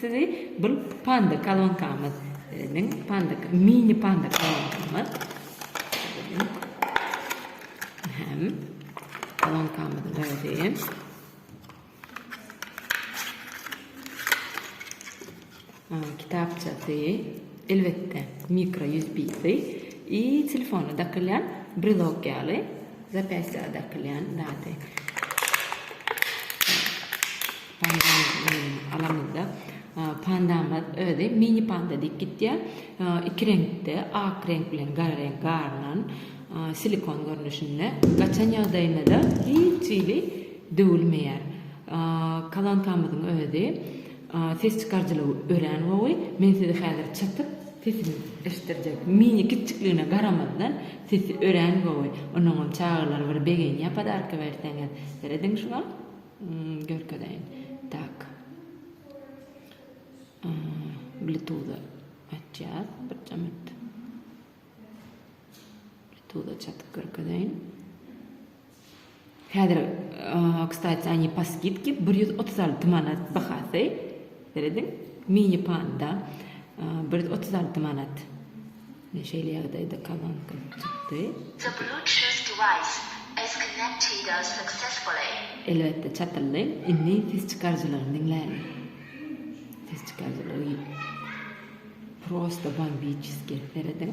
Sizi bir panda kolonkamyz niň panda mini panda kolonkamyz hem kolonkamyzyň özi kitapçasy elbetde mikro usbsi i telefona dakylýan brelok ýaly zapyasýa dakylýan zady Pandamyzda pandamyz özi mini panda diýip gitýär. Iki reňkde, ak reňk bilen gara reňk garylan, silikon görnüşinde. Gaçan ýagdaýynda-da hiç hili döwülmeýär. Kalankamyzyň özi ses çykaryjylygy örän gowy. Men size häzir çatyp sesini eşitdirjek. Mini kiçjikligine garamazdan sesi örän gowy. Onuňam çagalar bir begenýär podarka berseňiz. Serediň şuňa. Görkezeýin. Tak. Bluetooth açýas. Birje minut. Bluetooth açyp görkezeýin. Häzir, kstati, ani pa skidki 136 manat bahasy. Berediň. Mini panda 136 manat. Ine şeýle ýagdaýda kabanka çykdy. The Bluetooth device is connected successfully. Elbetde çatyldy. Indi ses çykaryjylaryny diňläliň. Ses çykaryjylary prosta bombiçeskiý. Serediň.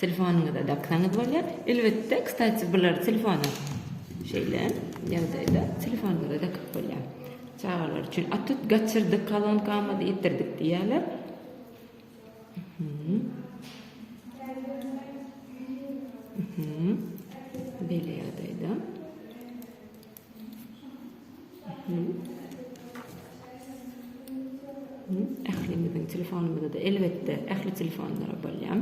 Telefonyňyza daksaňyz bolýar. Elbetde, kstati, bulary telefona şeýle ýagdaýda telefonyňyza dakyp bolýar. Çagalar üçin at tut gaçyrdyk, kolonkamyzy ýitirdik diýýärler. Mhm. Mhm. Beýle ýagdaýda. Ählimiziň telefonumyzda-da elbetde ähli telefonlara bolýar.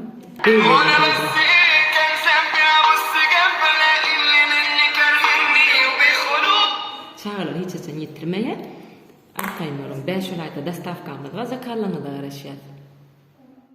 Çagalar hiç haçan ýetirmeýär. Arkaýyn boluň. Bäş on aýda dostawkamyz bar, zakazlaryňyza garaşýas.